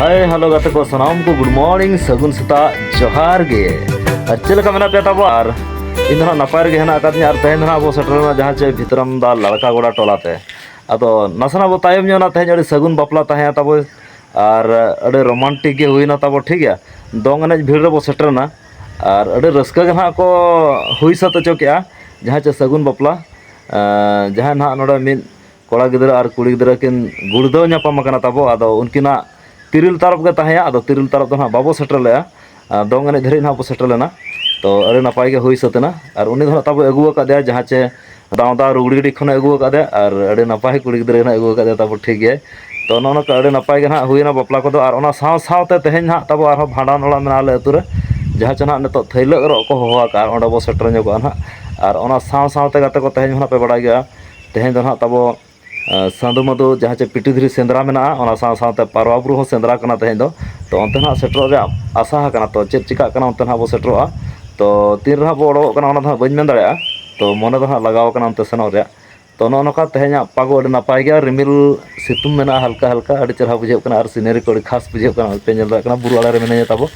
ᱦᱟᱭ hello ᱜᱟᱛᱮ ᱠᱚ ᱥᱟᱱᱟᱢ ᱠᱚ ᱜᱩᱰ ᱢᱚᱨᱱᱤᱝ ᱥᱟᱹᱜᱩᱱ ᱥᱮᱛᱟᱜ ᱡᱚᱦᱟᱨ ᱜᱮ ᱟᱨ ᱪᱮᱫ ᱞᱮᱠᱟ ᱢᱮᱱᱟᱜ ᱯᱮᱭᱟ ᱛᱟᱵᱚ ᱟᱨ ᱤᱧ ᱫᱚ ᱦᱟᱸᱜ ᱱᱟᱯᱟᱭ ᱨᱮᱜᱮ ᱦᱮᱱᱟᱜ ᱟᱠᱟᱫᱤᱧᱟ ᱟᱨ ᱛᱮᱦᱮᱧ ᱫᱚ ᱦᱟᱸᱜ ᱟᱵᱚ ᱥᱮᱴᱮᱨᱮᱱᱟ ᱡᱟᱦᱟᱸ ᱪᱮ ᱵᱷᱤᱛᱨᱟᱢ ᱫᱟ ᱞᱟᱲᱠᱟ ᱜᱚᱰᱟ ᱴᱚᱞᱟ ᱛᱮ ᱟᱫᱚ ᱱᱟᱥᱮᱱᱟᱜ ᱵᱚ ᱛᱟᱭᱚᱢ ᱧᱚᱜ ᱮᱱᱟ ᱛᱮᱦᱮᱧ ᱟᱹᱰᱤ ᱥᱟᱹᱜᱩᱱ ᱵᱟᱯᱞᱟ ᱛᱟᱦᱮᱸᱭᱟ ᱛᱟᱵᱚ ᱟᱨ ᱟᱹᱰᱤ ᱨᱳᱢᱟᱱᱴᱤᱠ ᱜᱮ ᱦᱩᱭᱱᱟ ᱛᱟᱵᱚ ᱴᱷᱤᱠ ᱜᱮᱭᱟ ᱫᱚᱝ ᱮᱱᱮᱡ ᱵᱷᱤᱲ ᱨᱮᱵᱚ ᱥᱮᱴᱮᱨᱮᱱᱟ ᱟᱨ ᱟᱹᱰᱤ ᱨᱟᱹᱥᱠᱟᱹ ᱜᱮ ᱱᱟᱦᱟᱜ ᱠᱚ ᱦᱩᱭ ᱥᱟᱹᱛ ᱦᱚᱪᱚ ᱠᱮᱜᱼᱟ ᱡᱟᱦᱟᱸ ᱪᱮ ᱥᱟᱹᱜᱩᱱ ᱵᱟᱯᱞᱟ ᱡᱟᱦᱟᱸᱭ ᱱᱟᱦᱟᱜ ᱱᱚᱰᱮ ᱢᱤᱫ ᱠᱚᱲᱟ ᱜᱤᱫᱽᱨᱟᱹ ᱟᱨ ᱠᱩᱲᱤ ᱜᱤᱫᱽᱨᱟᱹ ᱠᱤᱱ ᱜᱩᱲᱫᱟᱹᱣ ᱧᱟᱯᱟᱢ ᱟᱠᱟᱱᱟ ᱛᱟᱵᱚ ᱟᱫᱚ ᱩᱱᱠᱤᱱᱟᱜ ᱛᱤᱨᱤᱞ ᱛᱟᱨᱚᱵ ᱜᱮ ᱛᱟᱦᱮᱸᱭᱟ ᱟᱫᱚ ᱛᱤᱨᱤᱞ ᱛᱟᱨᱚᱵ ᱫᱚ ᱱᱟᱦᱟᱜ ᱵᱟᱵᱚ ᱥᱮᱴᱮᱨ ᱞᱮᱜᱼᱟ ᱟᱨ ᱫᱚᱝ ᱮᱱᱮᱡ ᱫᱷᱟᱹᱨᱤᱡ ᱱᱟᱦᱟᱜ ᱵᱚᱱ ᱥᱮᱴᱮᱨ ᱞᱮᱱᱟ ᱛᱚ ᱟᱹᱰᱤ ᱱᱟᱯᱟᱭ ᱜᱮ ᱦᱩᱭ ᱥᱟᱹᱛ ᱮᱱᱟ ᱟᱨ ᱩᱱᱤ ᱫᱚ ᱱᱟᱦᱟᱜ ᱛᱟᱵᱚ ᱟᱹᱜᱩ ᱟᱠᱟᱫᱮᱭᱟ ᱡᱟᱦᱟᱸ ᱪᱮ ᱫᱟᱣ ᱫᱟᱣ ᱨᱩᱜᱽᱲᱤ ᱰᱤ ᱠᱷᱚᱱᱮ ᱟᱹᱜᱩ ᱟᱠᱟᱫᱮ ᱟᱨ ᱟᱹᱰᱤ ᱱᱟᱯᱟᱭ ᱠᱩᱲᱤ ᱜᱤᱫᱽᱨᱟᱹ ᱦᱟᱸᱜ ᱟᱹᱜᱩ ᱟᱠᱟᱫᱮ ᱛᱟᱵᱚ ᱴᱷᱤᱠ ᱜᱮ ᱛᱚ ᱱᱚᱜᱼᱚ ᱱᱚᱝᱠᱟ ᱟᱹᱰᱤ ᱱᱟᱯᱟᱭ ᱜᱮ ᱦᱟᱸᱜ ᱦᱩᱭᱱᱟ ᱵᱟᱯᱞᱟ ᱠᱚᱫᱚ ᱟᱨ ᱚᱱᱟ ᱥᱟᱶ ᱥᱟᱶᱛᱮ ᱛᱮᱦᱮᱧ ᱦᱟᱸᱜ ᱛᱟᱵᱚ ᱟᱨᱦᱚᱸ ᱵᱷᱟᱸᱰᱟᱱ ᱚᱲᱟᱜ ᱢᱮᱱᱟᱜᱼᱟ ᱟᱞᱮ ᱟᱹᱛᱩ ᱨᱮ ᱡᱟᱦᱟᱸ ᱪᱮ ᱦᱟᱸᱜ ᱱᱤᱛᱚᱜ ᱛᱷᱟᱹᱭᱞᱟᱹᱜ ᱚᱨᱚᱜ ᱠᱚ ᱦᱚᱦᱚ ᱟᱠᱟᱫᱼᱟ ᱚᱸᱰᱮ ᱵᱚᱱ ᱥᱮᱴᱮᱨ ᱧᱚᱜᱚᱜᱼᱟ ᱦᱟᱸᱜ ᱟᱨ ᱚᱱᱟ ᱥᱟᱶ ᱥᱟᱶᱛᱮ ᱜᱟᱛᱮ ᱠᱚ ᱛᱮᱦᱮᱧ ᱦᱟᱸᱜ ᱯᱮ ᱵᱟᱲᱟᱭ ᱜᱮᱭᱟ ᱛᱮᱦᱮᱧ ᱫᱚ ᱦᱟᱸᱜ ᱛᱟᱵᱚ ᱥᱟᱫᱚ ᱢᱟᱫᱚ ᱡᱟᱦᱟᱸ ᱪᱮ ᱯᱤᱴᱤ ᱫᱷᱤᱨᱤ ᱥᱮᱸᱫᱽᱨᱟ ᱢᱮᱱᱟᱜᱼᱟ ᱚᱱᱟ ᱥᱟᱶ ᱥᱟᱶᱛᱮ ᱯᱟᱣᱨᱟ ᱵᱩᱨᱩ ᱦᱚᱸ ᱥᱮᱸᱫᱽᱨᱟ ᱠᱟᱱᱟ ᱛᱮᱦᱮᱧ ᱫᱚ ᱛᱚ ᱚᱱᱛᱮ ᱱᱟᱦᱟᱜ ᱥᱮᱴᱮᱨᱚᱜ ᱨᱮᱭᱟᱜ ᱟᱥᱟ ᱟᱠᱟᱱᱟ ᱛᱚ ᱪᱮᱫ ᱪᱤᱠᱟᱹᱜ ᱠᱟᱱᱟ ᱚᱱᱛᱮ ᱱᱟᱦᱟᱜ ᱵᱚᱱ ᱥᱮᱴᱮᱨᱚᱜᱼᱟ ᱛᱚ ᱛᱤᱱ ᱨᱮᱦᱟᱸᱜ ᱵᱚᱱ ᱚᱰᱚᱠᱚᱜ ᱠᱟᱱᱟ ᱚᱱᱟ ᱫᱚ ᱦᱟᱸᱜ ᱵᱟᱹᱧ ᱢᱮᱱ ᱫᱟᱲᱮᱭᱟᱜᱼᱟ ᱛᱚ ᱢᱚᱱᱮ ᱫᱚ ᱦᱟᱸᱜ ᱞᱟᱜᱟᱣ ᱠᱟᱱᱟ ᱚᱱᱛᱮ ᱥᱮᱱᱚᱜ ᱨᱮᱭᱟᱜ ᱛᱚ ᱱᱚᱜᱼᱚ ᱱᱚᱝᱠᱟ ᱛᱮᱦᱮᱧᱟᱜ ᱯᱟᱜᱽ ᱟᱹᱰᱤ ᱱᱟᱯᱟᱭ ᱜᱮᱭᱟ ᱨᱤᱢᱤᱞ ᱥᱤᱛᱩᱝ ᱢᱮᱱᱟᱜᱼᱟ ᱦᱟᱞᱠᱟ ᱦᱟᱞᱠᱟ ᱟᱹᱰᱤ ᱪᱮᱦᱨᱟ ᱵᱩᱡᱷᱟᱹᱜ ᱠᱟᱱᱟ ᱟᱨ ᱥᱤᱱᱟᱹᱨᱤ ᱠᱚ ᱟᱹᱰᱤ ᱠᱷᱟᱥ ᱵᱩᱡᱷᱟᱹᱜ ᱠᱟᱱᱟ ᱚᱱᱛᱮ ᱧᱮᱞ ᱫᱟᱲᱮᱭᱟᱜ ᱠᱟᱱᱟ ᱵᱩᱨᱩ ᱟᱲᱮ ᱨᱮ ᱢᱤᱱᱟᱹᱧᱟ ᱛᱟᱵᱚ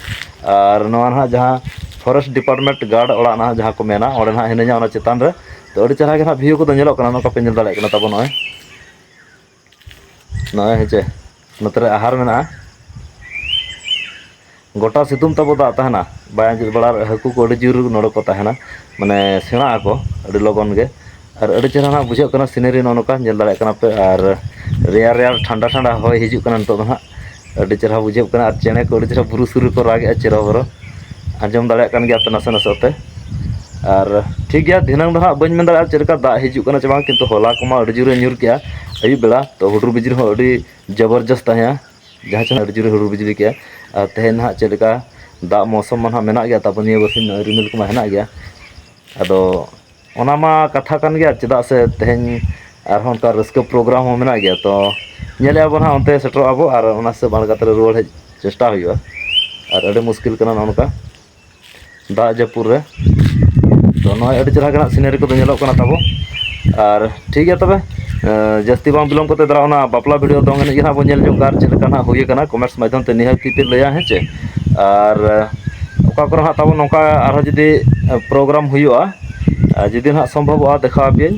ᱟᱨ ᱱᱚᱣᱟ ᱱᱟᱦᱟᱜ ᱡᱟᱦᱟᱸ ᱯᱷᱚᱨᱮᱥᱴ ᱰᱤᱯᱟᱨᱴᱢᱮᱱᱴ ᱜᱟᱲ ᱚᱲᱟᱜ ᱱᱟᱦᱟᱜ ᱡᱟᱦᱟᱸ ᱠᱚ ᱢᱮᱱᱟ ᱚᱸᱰᱮ ᱱᱟᱦᱟᱜ ᱢᱤᱱᱟᱹᱧᱟ ᱚᱱᱟ ᱪᱮᱛᱟᱱ ᱨᱮ ᱛᱚ ᱟᱹᱰᱤ ᱪᱮᱦᱨᱟ ᱜᱮ ᱱᱟᱦᱟᱜ ᱵᱷᱤᱭᱩ ᱠᱚᱫᱚ ᱧᱮᱞᱚᱜ ᱠᱟᱱᱟ ᱱᱚᱝᱠᱟ ᱯᱮ ᱧᱮᱞ ᱫᱟᱲᱮᱭᱟᱜ ᱠᱟᱱᱟ ᱛᱟᱵᱚ ᱱᱚᱜᱼᱚᱭ ᱱᱚᱜᱼᱚᱭ ᱦᱮᱸᱪᱮ ᱱᱚᱛᱮ ᱨᱮ ᱟᱦᱟᱨ ᱢᱮᱱᱟᱜᱼᱟ ᱜᱚᱴᱟ ᱥᱤᱛᱩᱝ ᱛᱟᱵᱚ ᱫᱟᱜ ᱛᱟᱦᱮᱱᱟ ᱵᱟᱭ ᱟᱸᱡᱮᱫ ᱵᱟᱲᱟ ᱦᱟᱹᱠᱩ ᱠᱚ ᱟᱹᱰᱤ ᱡᱳᱨ ᱱᱚᱰᱮ ᱠᱚ ᱛᱟᱦᱮᱱᱟ ᱢᱟᱱᱮ ᱥᱮᱬᱟᱜ ᱟᱠᱚ ᱟᱹᱰᱤ ᱞᱚᱜᱚᱱ ᱜᱮ ᱟᱨ ᱟᱹᱰᱤ ᱪᱮᱦᱨᱟ ᱱᱟᱦᱟᱜ ᱵᱩᱡᱷᱟᱹᱜ ᱠᱟᱱᱟ ᱥᱤᱱᱟᱹᱨᱤ ᱱᱚᱜᱼᱚ ᱱᱚᱝᱠᱟ ᱧᱮᱞ ᱫᱟᱲᱮᱭᱟᱜ ᱠᱟᱱᱟ ᱯᱮ ᱟᱨ ᱨᱮᱭᱟᱲ ᱨᱮᱭᱟᱲ ᱴᱷᱟᱱᱰᱟ ᱴᱷᱟᱱᱰᱟ ᱦᱚᱭ ᱦᱤᱡᱩᱜ ᱠᱟᱱᱟ ᱱᱤᱛᱚᱜ ᱫᱚ ᱦᱟᱸᱜ ᱟᱹᱰᱤ ᱪᱮᱦᱨᱟ ᱵᱩᱡᱷᱟᱹᱜ ᱠᱟᱱᱟ ᱟᱨ ᱪᱮᱬᱮ ᱠᱚ ᱟᱹᱰᱤ ᱪᱮᱦᱨᱟ ᱵᱩᱨᱩ ᱥᱩᱨ ᱨᱮᱠᱚ ᱨᱟᱜ ᱮᱜᱼᱟ ᱪᱮᱨᱚ ᱵᱮᱨᱚ ᱟᱸᱡᱚᱢ ᱫᱟᱲᱮᱭᱟᱜ ᱠᱟᱱ ᱜᱮᱭᱟᱯᱮ ᱱᱟᱥᱮ ᱱᱟᱥᱮ ᱛᱮ ᱟᱨ ᱴᱷᱤᱠ ᱜᱮᱭᱟ ᱫᱷᱤᱱᱟᱹᱝ ᱫᱚ ᱦᱟᱸᱜ ᱵᱟᱹᱧ ᱢᱮᱱ ᱫᱟᱲᱮᱭᱟᱜᱼᱟ ᱪᱮᱫ ᱞᱮᱠᱟ ᱫᱟᱜ ᱦᱤᱡᱩᱜ ᱠᱟᱱᱟ ᱥᱮ ᱵᱟᱝ ᱠᱤᱱᱛᱩ ᱦᱚᱞᱟ ᱠᱚᱢᱟ ᱟᱹᱰᱤ ᱡᱳᱨᱮ ᱧᱩᱨ ᱠᱮᱜᱼᱟ ᱟᱹᱭᱩᱵ ᱵᱮᱲᱟ ᱛᱚ ᱦᱩᱰᱩᱨ ᱵᱤᱡᱽᱞᱤ ᱦᱚᱸ ᱟᱹᱰᱤ ᱡᱚᱵᱚᱨᱡᱚᱥᱛ ᱛᱟᱦᱮᱸᱜᱼᱟ ᱡᱟᱦᱟᱸ ᱪᱮᱬᱮ ᱟᱹᱰᱤ ᱡᱳᱨᱮ ᱦᱩᱰᱩᱨ ᱵᱤᱡᱽᱞᱤ ᱠᱮᱜᱼᱟ ᱟᱨ ᱛᱮᱦᱮᱧ ᱦᱟᱸᱜ ᱪᱮᱫ ᱞᱮᱠᱟ ᱫᱟᱜ ᱢᱚᱣᱥᱚᱢ ᱢᱟ ᱦᱟᱸᱜ ᱢᱮᱱᱟᱜ ᱜᱮᱭᱟ ᱛᱟᱨᱯᱚᱨ ᱱᱤᱭᱟᱹ ᱵᱟᱨᱥᱤᱧ ᱨᱤᱢᱤᱞ ᱠᱚᱢᱟ ᱦᱮᱱᱟᱜ ᱜᱮᱭᱟ ᱟᱫᱚ ᱚᱱᱟ ᱢᱟ ᱠᱟᱛᱷᱟ ᱠᱟᱱ ᱜᱮᱭᱟ ᱪᱮᱫᱟᱜ ᱥᱮ ᱛᱮᱦᱮᱧ ᱟᱨᱦᱚᱸ ᱚᱱᱠᱟ ᱨᱟᱹᱥᱠᱟᱹ ᱯᱨᱳᱜᱨᱟᱢ ᱦᱚᱸ ᱢᱮᱱᱟᱜ ᱜᱮᱭᱟ ᱛᱚ ᱧᱮᱞᱮᱜᱼᱟ ᱵᱚᱱ ᱦᱟᱸᱜ ᱚᱱᱛᱮ ᱥᱮᱴᱮᱨᱚᱜ ᱟᱵᱚ ᱟᱨ ᱚᱱᱟ ᱦᱤᱥᱟᱹᱵ ᱵᱟᱝ ᱠᱟᱛᱮᱫ ᱨᱩᱣᱟᱹᱲ ᱦᱮᱡ ᱪᱮᱥᱴᱟ ᱦᱩᱭᱩᱜᱼᱟ ᱟᱨ ᱟᱹᱰᱤ ᱢᱩᱥᱠᱤᱞ ᱠᱟᱱᱟ ᱱᱚᱜᱼᱚ ᱱᱚᱝᱠᱟ ᱫᱟᱜ ᱡᱟᱹᱯᱩᱫ ᱨᱮ ᱛᱚ ᱱᱚᱜᱼᱚᱭ ᱟᱹᱰᱤ ᱪᱮᱦᱨᱟ ᱜᱮ ᱦᱟᱸᱜ ᱥᱤᱱᱟᱹᱨᱤ ᱠᱚᱫᱚ ᱧᱮᱞᱚᱜ ᱠᱟᱱᱟ ᱛᱟᱵᱚ ᱟᱨ ᱴᱷᱤᱠ ᱜᱮᱭᱟ ᱛᱚᱵᱮ ᱡᱟᱹᱥᱛᱤ ᱵᱟᱝ ᱵᱤᱞᱚᱢ ᱠᱟᱛᱮ ᱫᱚ ᱚᱱᱟ ᱵᱟᱯᱞᱟ ᱵᱷᱤᱰᱭᱳ ᱫᱚᱝ ᱮᱱᱮᱡ ᱜᱮ ᱦᱟᱸᱜ ᱵᱚᱱ ᱧᱮᱞ ᱧᱚᱜ ᱠᱟᱜᱼᱟ ᱪᱮᱫ ᱞᱮᱠᱟ ᱦᱟᱸᱜ ᱦᱩᱭ ᱠᱟᱱᱟ ᱠᱚᱢᱮᱱᱴᱥ ᱢᱟᱫᱽᱫᱷᱚᱢ ᱛᱮ ᱱᱤᱦᱟᱹᱛ ᱜᱮᱯᱮ ᱞᱟᱹᱭᱟ ᱦᱮᱸ ᱪᱮ ᱟᱨ ᱚᱠᱟ ᱠᱚᱨᱮ ᱦᱟᱸᱜ ᱛᱟᱵᱚᱱ ᱱᱚᱝᱠᱟ ᱟᱨᱦᱚᱸ ᱡᱩᱫᱤ ᱯᱨᱳᱜᱨᱟᱢ ᱦᱩᱭᱩᱜᱼᱟ ᱟᱨ ᱡᱩᱫᱤ ᱦᱟᱸᱜ ᱥᱚᱢᱵᱷᱚᱵᱚᱜᱼᱟ ᱫᱮᱠᱷᱟᱣ ᱟᱯᱮᱭᱟᱹᱧ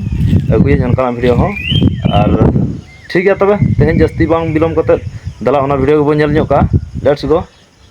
ᱟᱹᱜᱩᱭᱟᱹᱧ ᱚᱱᱠᱟᱱᱟᱜ ᱵᱷᱤᱰᱭᱳ ᱦᱚᱸ ᱟᱨ ᱴᱷᱤᱠ ᱜᱮᱭᱟ ᱛᱚᱵᱮ ᱛᱮᱦᱮᱧ ᱡᱟᱹᱥᱛᱤ ᱵᱟᱝ ᱵᱤᱞᱚᱢ ᱠᱟᱛᱮ ᱫᱮᱞᱟ ᱚᱱᱟ ᱵᱷᱤᱰᱭᱳ ᱜᱮᱵᱚᱱ ᱧᱮᱞ ᱧᱚᱜ ᱠᱟᱜᱼᱟ ᱞᱮᱴᱥ ᱜᱳ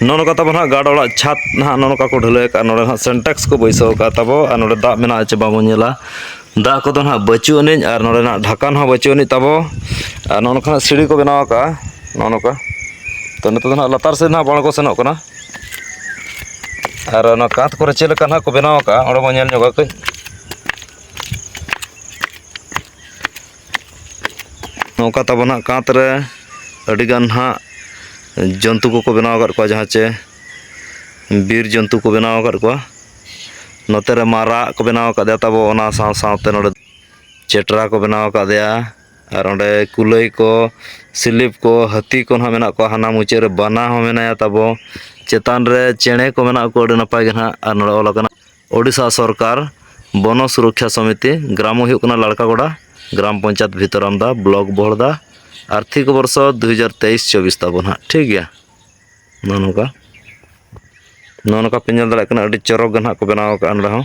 ᱱᱚᱱᱚ ᱠᱟᱛᱟ ᱵᱚᱱ ᱦᱟᱸᱜ ᱜᱟᱰ ᱚᱲᱟᱜ ᱪᱷᱟᱛ ᱱᱟᱦᱟᱜ ᱱᱚᱱᱚ ᱠᱟᱠᱚ ᱰᱷᱟᱹᱞᱟᱹᱭ ᱠᱟᱜ ᱱᱚᱰᱮ ᱦᱟᱸᱜ ᱥᱮᱱᱴᱮᱠᱥ ᱠᱚ ᱵᱟᱹᱭᱥᱟᱹᱣ ᱠᱟᱜ ᱛᱟᱵᱚ ᱟᱨ ᱱᱚᱰᱮ ᱫᱟᱜ ᱢᱮᱱᱟᱜᱼᱟ ᱪᱮ ᱵᱟᱵᱚᱱ ᱧᱮᱞᱟ ᱫᱟᱜ ᱠᱚᱫᱚ ᱦᱟᱸᱜ ᱵᱟᱹᱪᱩᱜ ᱟᱹᱱᱤᱡ ᱟᱨ ᱱᱚᱰᱮ ᱱᱟᱜ ᱰᱷᱟᱠᱟᱱ ᱦᱚᱸ ᱵᱟᱹᱪᱩᱜ ᱟᱹᱱᱤᱡ ᱛᱟᱵᱚ ᱟᱨ ᱱᱚᱜᱼᱚ ᱱᱚᱝᱠᱟᱱᱟᱜ ᱥᱤᱲᱤ ᱠᱚ ᱵᱮᱱᱟᱣ ᱠᱟᱜᱼᱟ ᱱᱚᱜᱼᱚ ᱱᱚᱝᱠᱟ ᱛᱚ ᱱᱤᱛᱚᱜ ᱫᱚ ᱦᱟᱸᱜ ᱞᱟᱛᱟᱨ ᱥᱮᱫ ᱦᱟᱸᱜ ᱵᱟᱝ ᱠᱚ ᱥᱮᱱᱚᱜ ᱠᱟᱱᱟ ᱟᱨ ᱚᱱᱟ ᱠᱟᱸᱛ ᱠᱚᱨᱮ ᱪᱮᱫ ᱞᱮᱠᱟ ᱱᱟᱜ ᱠᱚ ᱵᱮᱱᱟᱣ ᱠᱟᱜᱼᱟ ᱚᱸᱰᱮ ᱵᱚᱱ ᱧᱮᱞ ᱧᱚᱜᱟ ᱠᱟᱹᱡ ᱱᱚᱝᱠᱟ ᱛᱟᱵᱚᱱ ᱦᱟᱸᱜ ᱠᱟᱸᱛ ᱨᱮ ᱟᱹᱰᱤᱜᱟᱱ ᱦᱟᱸᱜ ᱡᱚᱱᱛᱩ ᱠᱚᱠᱚ ᱵᱮᱱᱟᱣ ᱟᱠᱟᱫ ᱠᱚᱣᱟ ᱡᱟᱦᱟᱸ ᱪᱮ ᱵᱤᱨ ᱡᱚᱱᱛᱩ ᱠᱚ ᱵᱮᱱᱟᱣ ᱟᱠᱟᱫ ᱠᱚᱣᱟ ᱱᱚᱛᱮ ᱨᱮ ᱢᱟᱨᱟᱜ ᱠᱚ ᱵᱮᱱᱟᱣ ᱠᱟᱫᱮᱭᱟ ᱛᱟᱵᱚ ᱚᱱᱟ ᱥᱟᱶ ᱥᱟᱶᱛᱮ ᱱᱚᱰᱮ ᱪᱮᱴᱨᱟ ᱠᱚ ᱵᱮᱱᱟᱣ ᱠᱟᱫᱮᱭᱟ ᱟᱨ ᱚᱸᱰᱮ ᱠᱩᱞᱟᱹᱭ ᱠᱚ ᱥᱤᱞᱤᱯ ᱠᱚ ᱦᱟᱹᱛᱤ ᱠᱚ ᱦᱟᱸᱜ ᱢᱮᱱᱟᱜ ᱠᱚᱣᱟ ᱦᱟᱱᱟ ᱢᱩᱪᱟᱹᱫ ᱨᱮ ᱵᱟᱱᱟ ᱦᱚᱸ ᱢᱮᱱᱟᱭᱟ ᱛᱟᱵᱚ ᱪᱮᱛᱟᱱ ᱨᱮ ᱪᱮᱬᱮ ᱠᱚ ᱢᱮᱱᱟᱜ ᱠᱚᱣᱟ ᱟᱹᱰᱤ ᱱᱟᱯᱟᱭ ᱜᱮ ᱦᱟᱸᱜ ᱟᱨ ᱱᱚᱰᱮ ᱚᱞ ᱠᱟᱱᱟ ᱳᱰᱤᱥᱟ ᱥᱚᱨᱠᱟᱨ ᱵᱚᱱᱚ ᱥᱩᱨᱚᱠᱠᱷᱟ ᱥᱚᱢᱤᱛᱤ ᱜᱨᱟᱢ ᱦᱩᱭᱩᱜ ᱠᱟᱱᱟ ᱞᱟᱲᱠᱟ ᱜᱚᱰᱟ ᱜᱨᱟᱢ ᱯᱚᱧᱪᱟᱭᱮᱛ ᱵᱷᱤᱛᱚᱨᱟᱢᱫᱟ ᱵᱞᱚᱠ ᱵᱚᱦᱚᱲᱫᱟ ᱟᱨᱛᱷᱤᱠ ᱵᱚᱨᱥᱚ ᱫᱩ ᱦᱟᱡᱟᱨ ᱛᱮᱭᱤᱥ ᱪᱚᱵᱵᱤᱥ ᱛᱟᱵᱚᱱ ᱦᱟᱸᱜ ᱴᱷᱤᱠ ᱜᱮᱭᱟ ᱱᱚᱜᱼᱚ ᱱᱚᱝᱠᱟ ᱱᱚᱜᱼᱚ ᱱᱚᱝᱠᱟ ᱯᱮ ᱧᱮᱞ ᱫᱟᱲᱮᱭᱟᱜ ᱠᱟᱱᱟ ᱟᱹᱰᱤ ᱪᱚᱨᱚᱠ ᱜᱮ ᱦᱟᱸᱜ ᱠᱚ ᱵᱮᱱᱟᱣ ᱠᱟᱜᱼᱟ ᱱᱚᱰᱮ ᱦᱚᱸ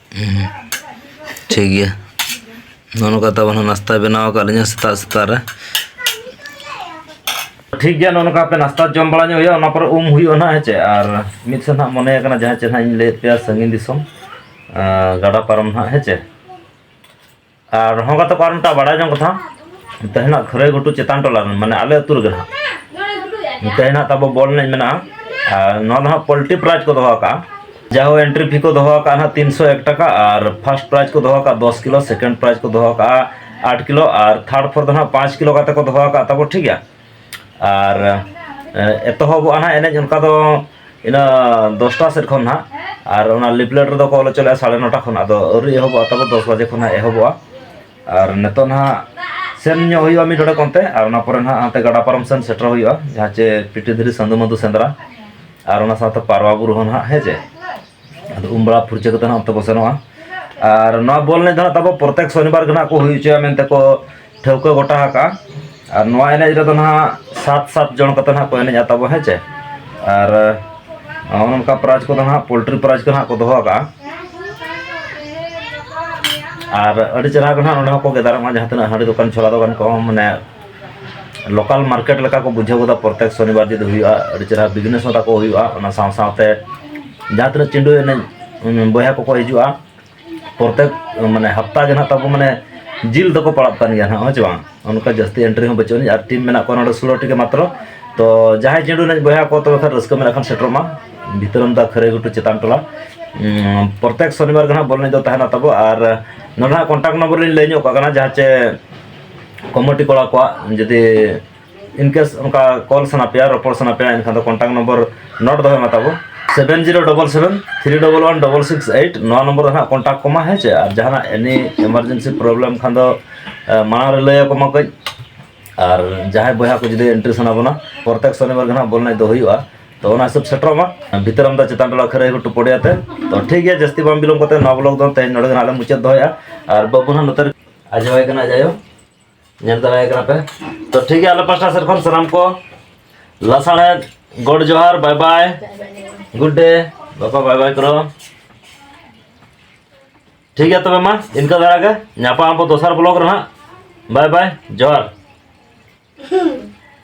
ᱴᱷᱤᱠ ᱜᱮᱭᱟ ᱱᱚᱜᱼᱚ ᱱᱚᱝᱠᱟ ᱛᱟᱵᱚᱱ ᱱᱟᱥᱛᱟ ᱵᱮᱱᱟᱣ ᱟᱠᱟᱫ ᱞᱤᱧᱟ ᱥᱮᱛᱟᱜ ᱥᱮᱛᱟᱜ ᱨᱮ ᱴᱷᱤᱠ ᱜᱮᱭᱟ ᱱᱚᱜᱼᱚ ᱱᱚᱝᱠᱟ ᱯᱮ ᱱᱟᱥᱛᱟ ᱡᱚᱢ ᱵᱟᱲᱟ ᱧᱚᱜ ᱦᱩᱭᱩᱜᱼᱟ ᱚᱱᱟ ᱯᱚᱨᱮ ᱩᱢ ᱦᱩᱭᱩᱜᱼᱟ ᱱᱟᱦᱟᱜ ᱦᱮᱸ ᱪᱮ ᱟᱨ ᱢᱤᱫ ᱥᱮᱫ ᱱᱟᱦᱟᱜ ᱢᱚᱱᱮ ᱟᱠᱟᱱᱟ ᱡᱟᱦᱟᱸ ᱪᱮᱫ ᱱᱟᱦᱟᱜ ᱤᱧ ᱞᱟᱹᱭᱮᱫ ᱯᱮᱭᱟ ᱥᱟᱺᱜᱤᱧ ᱫᱤᱥᱚᱢ ᱜᱟᱰᱟ ᱯᱟᱨᱚᱢ ᱱᱟᱦᱟᱜ ᱦᱮᱸ ᱪᱮ ᱟᱨ ᱦᱚᱸ ᱠᱟᱛᱮ ᱠᱚ ᱟᱨ ᱢᱤᱫᱴᱟᱝ ᱵᱟᱲᱟᱭ ᱡᱚᱝ ᱠᱟᱛᱷᱟ ᱛᱮᱦᱮᱧ ᱦᱟᱸᱜ ᱠᱷᱟᱹᱨᱟᱹᱭ ᱜᱷᱩᱴᱩ ᱪᱮᱛᱟᱱ ᱴᱚᱞᱟ ᱨᱮ ᱢᱟᱱᱮ ᱟᱞᱮ ᱟᱹᱛᱩ ᱨᱮᱜᱮ ᱦᱟᱸᱜ ᱛᱮᱦᱮᱧ ᱦᱟᱸᱜ ᱛᱟᱵᱚ ᱵᱚᱞ ᱮᱱᱮᱡ ᱢᱮᱱᱟᱜᱼᱟ ᱟᱨ ᱱᱚᱣᱟ ᱫᱚ ᱦᱟᱸᱜ ᱯᱚᱞᱴᱤ ᱯᱨᱟᱭᱤᱡᱽ ᱠᱚ ᱫᱚᱦᱚ ᱟᱠᱟᱜᱼᱟ ᱡᱟᱦᱳ ᱮᱱᱴᱨᱤ ᱯᱷᱤ ᱠᱚ ᱫᱚᱦᱚ ᱟᱠᱟᱜᱼᱟ ᱦᱟᱸᱜ ᱛᱤᱱᱥᱚ ᱮᱠ ᱴᱟᱠᱟ ᱟᱨ ᱯᱷᱟᱨᱥᱴ ᱯᱨᱟᱭᱤᱡᱽ ᱠᱚ ᱫᱚᱦᱚ ᱟᱠᱟᱜᱼᱟ ᱫᱚᱥ ᱠᱤᱞᱳ ᱥᱮᱠᱮᱱᱰ ᱯᱨᱟᱭᱤᱡᱽ ᱠᱚ ᱫᱚᱦᱚ ᱟᱠᱟᱜᱼᱟ ᱟᱴ ᱠᱤᱞᱳ ᱟᱨ ᱛᱷᱟᱨᱰ ᱯᱷᱳᱨ ᱫᱚ ᱦᱟᱸᱜ ᱯᱟᱸᱪ ᱠᱤᱞᱳ ᱠᱟᱛᱮ ᱠᱚ ᱫᱚᱦᱚ ᱟᱠᱟᱜᱼᱟ ᱛᱟᱵᱚ ᱴᱷᱤᱠ ᱜᱮᱭᱟ ᱟᱨ ᱮᱛᱚᱦᱚᱵᱚᱜᱼᱟ ᱱᱟᱦᱟᱜ ᱮᱱᱮᱡ ᱚᱱᱠᱟ ᱫᱚ ᱤᱱᱟᱹ ᱫᱚᱥᱴᱟ ᱥᱮᱫ ᱠᱷᱚᱱ ᱱᱟᱦᱟᱜ ᱟᱨ ᱚᱱᱟ ᱞᱤᱯᱞᱮᱴ ᱨᱮᱫᱚ ᱠᱚ ᱚᱞ ᱦᱚᱪᱚ ᱞᱮᱫᱼᱟ ᱥᱟᱲᱮ ᱱᱚᱴᱟ ᱠᱷᱚᱱ ᱟᱫᱚ ᱟᱹᱣᱨᱤ ᱮᱦᱚᱵᱚᱜᱼᱟ ᱛᱟᱵᱚ ᱫᱚᱥ ᱵᱟᱡᱮ ᱠᱷᱚᱱ ᱱᱟᱦᱟᱜ ᱮᱦᱚᱵᱚᱜᱼᱟ ᱟᱨ ᱱᱤᱛᱚᱜ ᱱᱟᱦᱟᱜ ᱥᱮᱱ ᱧᱚᱜ ᱦᱩᱭᱩᱜᱼᱟ ᱢᱤᱫ ᱰᱚᱰᱮᱠ ᱚᱱᱛᱮ ᱟᱨ ᱚᱱᱟ ᱯᱚᱨᱮ ᱱᱟᱦᱟᱜ ᱦᱟᱱᱛᱮ ᱜᱟᱰᱟ ᱯᱟᱨᱚᱢ ᱥᱮᱱ ᱥᱮᱴᱮᱨ ᱦᱩᱭᱩᱜᱼᱟ ᱡᱟᱦᱟᱸ ᱪᱮ ᱯᱤᱴᱤ ᱫᱷᱤᱨᱤ ᱥᱟᱹᱫᱷᱩ ᱢᱟᱹᱫᱷᱩ ᱥᱮᱸᱫᱽᱨᱟ ᱟᱨ ᱚᱱᱟ ᱥᱟᱶᱛᱮ ᱯᱟᱨᱣᱟ ᱵᱩᱨᱩ ᱦᱚᱸ ᱱᱟᱦᱟᱜ ᱦᱮᱸ ᱪᱮ ᱟᱫᱚ ᱩᱢ ᱵᱟᱲᱟ ᱯᱷᱩᱨᱪᱟᱹ ᱠᱟᱛᱮ ᱦᱟᱸᱜ ᱚᱱᱛᱮ ᱵᱚ ᱥᱮᱱᱚᱜᱼᱟ ᱟᱨ ᱱᱚᱣᱟ ᱵᱚᱞ ᱮᱱᱮᱡ ᱫᱚ ᱦᱟᱸᱜ ᱛᱟᱵᱚ ᱯᱨᱚᱛᱮᱠ ᱥᱚᱱᱤᱵᱟᱨ ᱜᱮ ᱦᱟᱸᱜ ᱠᱚ ᱦᱩᱭ ᱦᱚᱪᱚᱭᱟ ᱢᱮᱱᱛᱮ ᱠᱚ ᱴᱷᱟᱹᱣᱠᱟᱹ ᱜᱚᱴᱟ ᱟᱠᱟᱜᱼᱟ ᱟᱨ ᱱᱚᱣᱟ ᱮᱱᱮᱡ ᱨᱮᱫᱚ ᱦᱟᱸᱜ ᱥᱟᱛ ᱥᱟᱛ ᱡᱚᱱ ᱠᱟᱛᱮ ᱦᱟᱸᱜ ᱠᱚ ᱮᱱᱮᱡᱟ ᱛᱟᱵᱚ ᱦᱮᱸ ᱪᱮ ᱟᱨ ᱚᱱᱠᱟ ᱯᱨᱟᱭᱤᱡᱽ ᱠᱚᱫᱚ ᱦᱟᱸᱜ ᱯᱳᱞᱴᱨᱤ ᱯᱨᱟᱭᱤᱡᱽ ᱠᱚ ᱦᱟᱸᱜ ᱠᱚ ᱫᱚᱦᱚ ᱟᱠᱟᱜᱼᱟ ᱟᱨ ᱟᱹᱰᱤ ᱪᱮᱦᱨᱟ ᱜᱮ ᱦᱟᱸᱜ ᱱᱚᱰᱮ ᱦᱚᱸᱠᱚ ᱜᱮᱫᱟᱨᱚᱜᱼᱟ ᱡᱟᱦᱟᱸ ᱛᱤᱱᱟᱹᱜ ᱦᱟᱺᱰᱤ ᱫᱚᱠᱟᱱ ᱪᱷᱚᱞᱟ ᱫᱚᱠᱟᱱ ᱠᱚᱦᱚᱸ ᱢᱟᱱᱮ ᱞᱳᱠᱟᱞ ᱢᱟᱨᱠᱮᱴ ᱞᱮᱠᱟ ᱠᱚ ᱵᱩᱡᱷᱟᱹᱣ ᱜᱚᱫᱟ ᱯᱨᱚᱛᱮᱠ ᱥᱚᱱᱤᱵᱟᱨ ᱡᱩᱫᱤ ᱦᱩᱭᱩᱜᱼᱟ ᱟᱹᱰᱤ ᱪᱮᱦᱨᱟ ᱵᱤᱡᱽᱱᱮᱥ ᱦᱚᱸ ᱛᱟᱠᱚ ᱦᱩᱭᱩᱜᱼᱟ ᱚᱱᱟ ᱥᱟᱶ ᱥᱟᱶᱛᱮ ᱡᱟᱦᱟᱸ ᱛᱤᱱᱟᱹᱜ ᱪᱤᱸᱰᱩ ᱮᱱᱮᱡ ᱵᱚᱭᱦᱟ ᱠᱚᱠᱚ ᱦᱤᱡᱩᱜᱼᱟ ᱯᱨᱚᱛᱮᱠ ᱢᱟᱱᱮ ᱦᱟᱯᱛᱟ ᱜᱮ ᱱᱟᱦᱟᱜ ᱛᱟᱵᱚ ᱢᱟᱱᱮ ᱡᱤᱞ ᱫᱚᱠᱚ ᱯᱟᱲᱟᱜ ᱠᱟᱱ ᱜᱮᱭᱟ ᱱᱟᱦᱟᱜ ᱦᱮᱸ ᱪᱮ ᱵᱟᱝ ᱚᱱᱠᱟ ᱡᱟᱹᱥᱛᱤ ᱮᱱᱴᱨᱤ ᱦᱚᱸ ᱵᱟᱹᱪᱩᱜ ᱟᱹᱱᱤᱡ ᱟᱨ ᱴᱤᱢ ᱢᱮᱱᱟᱜ ᱠᱚᱣᱟ ᱱᱚᱰᱮ ᱥᱳᱞᱳᱴᱤ ᱜᱮ ᱢᱟᱛᱨᱚ ᱛᱚ ᱡᱟᱦᱟᱸᱭ ᱪᱤᱸᱰᱩ ᱮᱱᱮᱡ ᱵᱚᱭᱦᱟ ᱠᱚ ᱛᱚᱵᱮ ᱠᱷᱟᱱ ᱨᱟᱹᱥᱠᱟᱹ ᱢᱮᱱᱟᱜ ᱠᱷᱟᱱ ᱥᱮᱴᱮᱨᱚᱜ ᱢᱟ ᱵᱷᱤᱛᱨᱟᱹᱢ ᱫᱟ ᱠᱷᱟᱹᱨᱟᱹᱭ ᱜᱷᱩᱴᱩ ᱪᱮᱛᱟᱱ ᱴᱚᱞᱟ ᱯᱨᱚᱛᱮᱠ ᱥᱚᱱᱤᱵᱟᱨ ᱜᱮ ᱱᱟᱦᱟᱜ ᱵᱚᱞ ᱮᱱᱮᱡ ᱫᱚ ᱛᱟᱦᱮᱱᱟ ᱛᱟᱵᱚ ᱟᱨ ᱱᱚᱰᱮ ᱱᱟᱦᱟᱜ ᱠᱚᱱᱴᱟᱠᱴ ᱱᱚᱢᱵᱚᱨ ᱞᱤᱧ ᱞᱟᱹᱭ ᱧᱚᱜ ᱠᱟᱜ ᱠᱟᱱᱟ ᱡᱟᱦᱟᱸ ᱪᱮ ᱠᱚᱢᱤᱴᱤ ᱠᱚᱲᱟ ᱠᱚᱣᱟᱜ ᱡᱩᱫᱤ ᱤᱱ ᱠᱮᱥ ᱚᱱᱠᱟ ᱠᱚᱞ ᱥᱟᱱᱟ ᱯᱮᱭᱟ ᱨᱚᱯᱚᱲ ᱥᱟᱱᱟ ᱯᱮᱭᱟ ᱮᱱᱠᱷᱟᱱ ᱫᱚ ᱠᱚᱱᱴᱟᱠᱴ ᱱᱚᱢᱵᱚᱨ ᱱᱳᱴ ᱫᱚᱦᱚᱭ ᱢᱟ ᱛᱟᱵᱚ seven zero double seven three double one double six eight ᱱᱚᱣᱟ ᱱᱚᱢᱵᱚᱨ ᱨᱮ ᱦᱟᱸᱜ ᱠᱚᱱᱴᱟᱠᱴ ᱠᱚᱢᱟ ᱦᱮᱸ ᱪᱮ ᱟᱨ ᱡᱟᱦᱟᱱᱟᱜ ᱮᱱᱤ ᱮᱢᱟᱨᱡᱮᱱᱥᱤ ᱯᱨᱚᱵᱞᱮᱢ ᱠᱷᱟᱱ ᱫᱚ ᱢᱟᱲᱟᱝ ᱨᱮ ᱞᱟᱹᱭ ᱟᱠᱚ ᱢᱟ ᱠᱟᱹᱡ ᱟᱨ ᱡᱟᱦᱟᱸᱭ ᱵᱚᱭᱦᱟ ᱠᱚ ᱡᱩᱫᱤ ᱮᱱᱴᱨᱤ ᱥᱟᱱᱟ ᱵᱚᱱᱟ ᱯᱨᱚᱛᱮᱠ ᱥᱚᱱᱤᱵᱟᱨ ᱜᱮ ᱦᱟᱸᱜ ᱵᱚᱞ ᱮᱱᱮᱡ ᱫᱚ ᱦᱩᱭᱩᱜᱼᱟ ᱛᱚ ᱚᱱᱟ ᱦᱤᱥᱟᱹᱵ ᱥᱮᱴᱮᱨᱚᱜ ᱢᱟ ᱵᱷᱤᱛᱟᱹᱨᱟᱢ ᱫᱟ ᱪᱮᱛᱟᱱ ᱴᱚᱞᱟ ᱠᱷᱟᱹᱨᱟᱹᱭ ᱜᱷᱩᱴᱩ ᱯᱚᱲᱤᱭᱟ ᱛᱮ ᱛᱚ ᱴᱷᱤᱠ ᱜᱮᱭᱟ ᱡᱟᱹᱥᱛᱤ ᱵᱟᱝ ᱵᱤᱞᱚᱢ ᱠᱟᱛᱮ ᱱᱚᱣᱟ ᱵᱞᱚᱜ ᱫᱚ ᱛᱮᱦᱮᱧ ᱱᱚᱰᱮ ᱜᱮ ᱦᱟᱸᱜ ᱞᱮ ᱢᱩᱪᱟᱹᱫ ᱫᱚᱦᱚᱭᱟ ᱟᱨ ᱵᱟᱹᱵᱩ ᱦᱟᱸᱜ ᱱᱚᱛᱮ ᱟᱨ ᱡᱟᱶᱟᱭ ᱠᱟᱱᱟ ᱡᱟᱭᱦᱳᱠ ᱧᱮᱞ ᱫᱟᱲᱮᱭᱟᱭ ᱠᱟᱱᱟ ᱯᱮ ᱛᱚ ᱴᱷᱤᱠ ᱜᱮᱭᱟ ᱟᱞᱮ ᱯᱟᱥᱴᱟ ᱥᱮᱫ ᱠᱷᱚᱱ ᱥᱟᱱᱟᱢ ᱠᱚ ᱞᱟᱥᱟᱬᱦᱮᱫ ᱜᱚᱰ ᱡᱚᱦᱟᱨ ᱵᱟᱭ ᱵᱟᱭ ᱜᱩᱰ ᱰᱮ ᱵᱟᱯᱟ ᱵᱟᱭ ᱵᱟᱭ ᱠᱚᱨᱚ ᱴᱷᱤᱠ ᱜᱮᱭᱟ ᱛᱚᱵᱮ ᱢᱟ ᱤᱱᱠᱟᱹ ᱫᱷᱟᱨᱟ ᱜᱮ ᱧᱟᱯᱟᱢ ᱟᱵᱚ ᱫᱚᱥᱟᱨ ᱵᱞᱚᱜ ᱨᱮ ᱦᱟᱸᱜ ᱵᱟᱭ ᱵᱟᱭ ᱡᱚᱦᱟᱨ